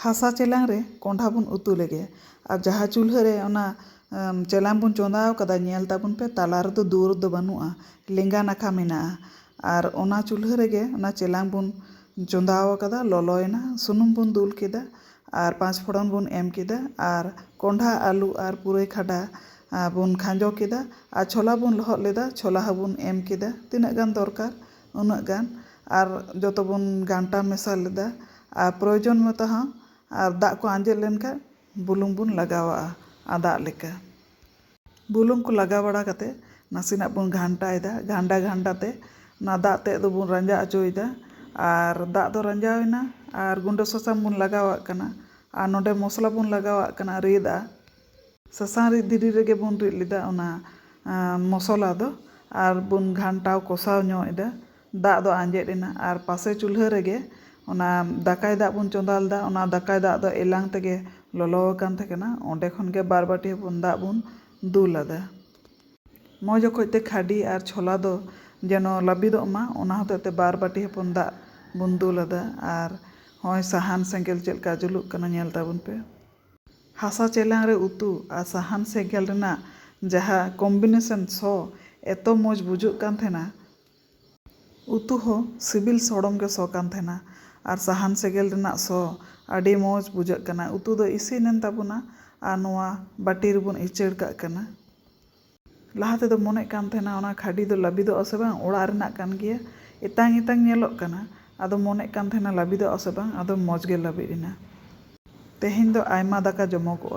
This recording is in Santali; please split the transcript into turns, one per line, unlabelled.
ᱦᱟᱥᱟ ᱪᱮᱞᱟᱝ ᱨᱮ ᱠᱚᱸᱰᱷᱟ ᱵᱚᱱ ᱩᱛᱩ ᱞᱮᱜᱮ ᱟᱨ ᱡᱟᱦᱟᱸ ᱪᱩᱞᱦᱟᱹ ᱨᱮ ᱚᱱᱟ ᱪᱮᱞᱟᱝ ᱵᱚᱱ ᱪᱚᱸᱫᱟ ᱟᱠᱟᱫᱟ ᱧᱮᱞ ᱛᱟᱵᱚᱱ ᱯᱮ ᱛᱟᱞᱟ ᱨᱮᱫᱚ ᱫᱩᱣᱟᱹᱨ ᱫᱚ ᱵᱟᱹᱱᱩᱜᱼᱟ ᱞᱮᱸᱜᱟ ᱱᱟᱠᱷᱟ ᱢᱮᱱᱟᱜᱼᱟ ᱟᱨ ᱚᱱᱟ ᱪᱩᱞᱦᱟᱹ ᱨᱮᱜᱮ ᱚᱱᱟ ᱪᱮᱞᱟᱝ ᱵᱚᱱ ᱪᱚᱸᱫᱟ ᱟᱠᱟᱫᱟ ᱞᱚᱞᱚᱭᱮᱱᱟ ᱥᱩᱱᱩᱢ ᱵᱚᱱ ᱫᱩᱞ ᱠᱮᱫᱟ ᱟᱨ ᱯᱟᱸᱪ ᱯᱷᱚᱲᱚᱱ ᱵᱚᱱ ᱮᱢ ᱠᱮᱫᱟ ᱟᱨ ᱠᱚᱸᱰᱷᱟ ᱟᱹᱞᱩ ᱟᱨ ᱯᱩᱨᱟᱹᱭ ᱠᱷᱟᱰᱟ ᱵᱚᱱ ᱠᱷᱟᱸᱡᱚ ᱠᱮᱫᱟ ᱟᱨ ᱪᱷᱚᱞᱟ ᱵᱚᱱ ᱞᱚᱦᱚᱫ ᱞᱮᱫᱟ ᱪᱷᱚᱞᱟ ᱦᱚᱸᱵᱚᱱ ᱮᱢ ᱠᱮᱫᱟ ᱛᱤᱱᱟᱹᱜ ᱜᱟᱱ ᱫᱚᱨᱠᱟᱨ ᱩᱱᱟᱹᱜ ᱜᱟᱱ ᱟᱨ ᱡᱚᱛᱚ ᱵᱚᱱ ᱜᱷᱟᱱᱴᱟ ᱢᱮᱥᱟ ᱞᱮᱫᱟ ᱟᱨ ᱯᱨᱚᱭᱳᱡᱚᱱ ᱢᱚᱛᱚ ᱦᱚᱸ ᱟᱨ ᱫᱟᱜ ᱠᱚ ᱟᱸᱡᱮᱫ ᱞᱮᱱ ᱠᱷᱟᱱ ᱵᱩᱞᱩᱝ ᱵᱚᱱ ᱞᱟᱜᱟᱣᱟᱜᱼᱟ ᱟᱫᱟᱜ ᱞᱮᱠᱟ ᱵᱩᱞᱩᱝ ᱠᱚ ᱞᱟᱜᱟᱣ ᱵᱟᱲᱟ ᱠᱟᱛᱮ ᱱᱟᱥᱮᱱᱟᱜ ᱵᱚᱱ ᱜᱷᱟᱱᱴᱟᱭᱮᱫᱟ ᱜᱷᱟᱱᱴᱟ ᱜᱷᱟᱱᱴᱟ ᱛᱮ ᱚᱱᱟ ᱫᱟᱜ ᱛᱮᱫ ᱫᱚᱵᱚᱱ ᱨᱟᱸᱡᱟ ᱚᱪᱚᱭᱮᱫᱟ ᱟᱨ ᱫᱟᱜ ᱫᱚ ᱨᱟᱸᱡᱟᱣ ᱮᱱᱟ ᱟᱨ ᱜᱩᱰᱟᱹ ᱥᱟᱥᱟᱝ ᱵᱚᱱ ᱞᱟᱜᱟᱣᱟᱜ ᱠᱟᱱᱟ ᱟᱨ ᱱᱚᱰᱮ ᱢᱚᱥᱞᱟ ᱵᱚᱱ ᱞᱟᱜᱟᱣᱟᱜ ᱠᱟᱱᱟ ᱨᱤᱫᱟᱜ ᱥᱟᱥᱟᱝ ᱨᱤᱫ ᱫᱷᱤᱨᱤ ᱨᱮᱜᱮ ᱵᱚᱱ ᱨᱤᱫ ᱞᱮᱫᱟ ᱚᱱᱟ ᱢᱚᱥᱚᱞᱟ ᱫᱚ ᱟᱨ ᱵᱚᱱ ᱜᱷᱟᱱᱴᱟᱣ ᱠᱚᱥᱟᱣ ᱧᱚᱜ ᱮᱫᱟ ᱫᱟᱜ ᱫᱚ ᱟᱸᱡᱮᱫ ᱮᱱᱟ ᱟᱨ ᱯᱟᱥᱮ ᱪᱩᱞᱦᱟᱹ ᱨᱮᱜᱮ ᱚᱱᱟ ᱫᱟᱠᱟᱭ ᱫᱟᱜ ᱵᱚᱱ ᱪᱚᱸᱫᱟ ᱞᱮᱫᱟ ᱚᱱᱟ ᱫᱟᱠᱟᱭ ᱫᱟᱜ ᱫᱚ ᱮᱞᱟᱝ ᱛᱮᱜᱮ ᱞᱚᱞᱚ ᱟᱠᱟᱱ ᱛᱟᱦᱮᱸ ᱠᱟᱱᱟ ᱚᱸᱰᱮ ᱠᱷᱚᱱ ᱜᱮ ᱵᱟᱨ ᱵᱟᱹᱴᱤ ᱦᱚᱯᱚᱱ ᱫᱟᱜ ᱵᱚᱱ ᱫᱩᱞ ᱟᱫᱟ ᱢᱚᱡᱽ ᱚᱠᱚᱡ ᱛᱮ ᱠᱷᱟᱹᱰᱤ ᱟᱨ ᱪᱷᱚᱞᱟ ᱫᱚ ᱡᱮᱱᱚ ᱞᱟᱹᱵᱤᱫᱚᱜ ᱢᱟ ᱚᱱᱟ ᱦᱚᱛᱮᱡ ᱛᱮ ᱵᱟᱨ ᱵᱟᱹᱴᱤ ᱦᱚᱯᱚᱱ ᱫᱟᱜ ᱵᱚᱱ ᱫᱩᱞ ᱟᱫᱟ ᱟᱨ ᱦᱚᱸᱜᱼᱚᱭ ᱥᱟᱦᱟᱱ ᱥᱮᱸᱜᱮᱞ ᱪᱮᱫ ᱞᱮᱠᱟ ᱡᱩᱞᱩᱜ ᱠᱟᱱᱟ ᱧᱮᱞ ᱛᱟᱵᱚᱱ ᱯᱮ ᱦᱟᱥᱟ ᱪᱮᱞᱟᱝ ᱨᱮ ᱩᱛᱩ ᱟᱨ ᱥᱟᱦᱟᱱ ᱥᱮᱸᱜᱮᱞ ᱨᱮᱱᱟᱜ ᱡᱟᱦᱟᱸ ᱠᱚᱢᱵᱤᱱᱮᱥᱚᱱ ᱥᱚ ᱮᱛᱚ ᱢᱚᱡᱽ ᱵᱩᱡᱷᱟᱹᱜ ᱠᱟᱱ ᱛᱟᱦᱮᱸᱱᱟ᱾ ᱩᱛᱩ ᱦᱚᱸ ᱥᱤᱵᱤᱞ ᱥᱚᱲᱚᱢ ᱜᱮ ᱥᱚ ᱠᱟᱱ ᱛᱟᱦᱮᱸᱱᱟ ᱟᱨ ᱥᱟᱦᱟᱱ ᱥᱮᱸᱜᱮᱞ ᱨᱮᱱᱟᱜ ᱥᱚ ᱟᱹᱰᱤ ᱢᱚᱡᱽ ᱵᱩᱡᱷᱟᱹᱜ ᱠᱟᱱᱟ᱾ ᱩᱛᱩ ᱫᱚ ᱤᱥᱤᱱ ᱮᱱ ᱛᱟᱵᱚᱱᱟ ᱟᱨ ᱱᱚᱶᱟ ᱵᱟᱹᱴᱤ ᱨᱮᱵᱚᱱ ᱤᱪᱟᱹᱲ ᱠᱟᱜ ᱠᱟᱱᱟ᱾ ᱞᱟᱦᱟ ᱛᱮᱫᱚ ᱢᱚᱱᱮᱜ ᱠᱟᱱ ᱛᱟᱦᱮᱱᱟ ᱚᱱᱟ ᱠᱷᱟᱹᱰᱤ ᱫᱚ ᱞᱟᱹᱵᱤᱫᱚᱜ ᱟᱥᱮ ᱵᱟᱝ ᱚᱲᱟᱜ ᱨᱮᱱᱟᱜ ᱠᱟᱱ ᱜᱮᱭᱟ ᱮᱛᱟᱝ ᱮᱛᱟᱝ ᱧᱮᱞᱚᱜ ᱠᱟᱱᱟ ᱟᱫᱚ ᱢᱚᱱᱮᱜ ᱠᱟᱱ ᱛᱟᱦᱮᱱᱟ ᱞᱟᱹᱵᱤᱫᱚᱜ ᱟᱥᱮ ᱵᱟᱝ ᱟᱫᱚ ᱢᱚᱡᱽ ᱜᱮ ᱞᱟᱹᱵᱤᱫ ᱮᱱᱟ ᱛᱮᱦᱮᱧ ᱫᱚ ᱟᱭᱢᱟ ᱫᱟᱠᱟ ᱡᱚᱢᱚᱜᱚᱜᱼᱟ᱾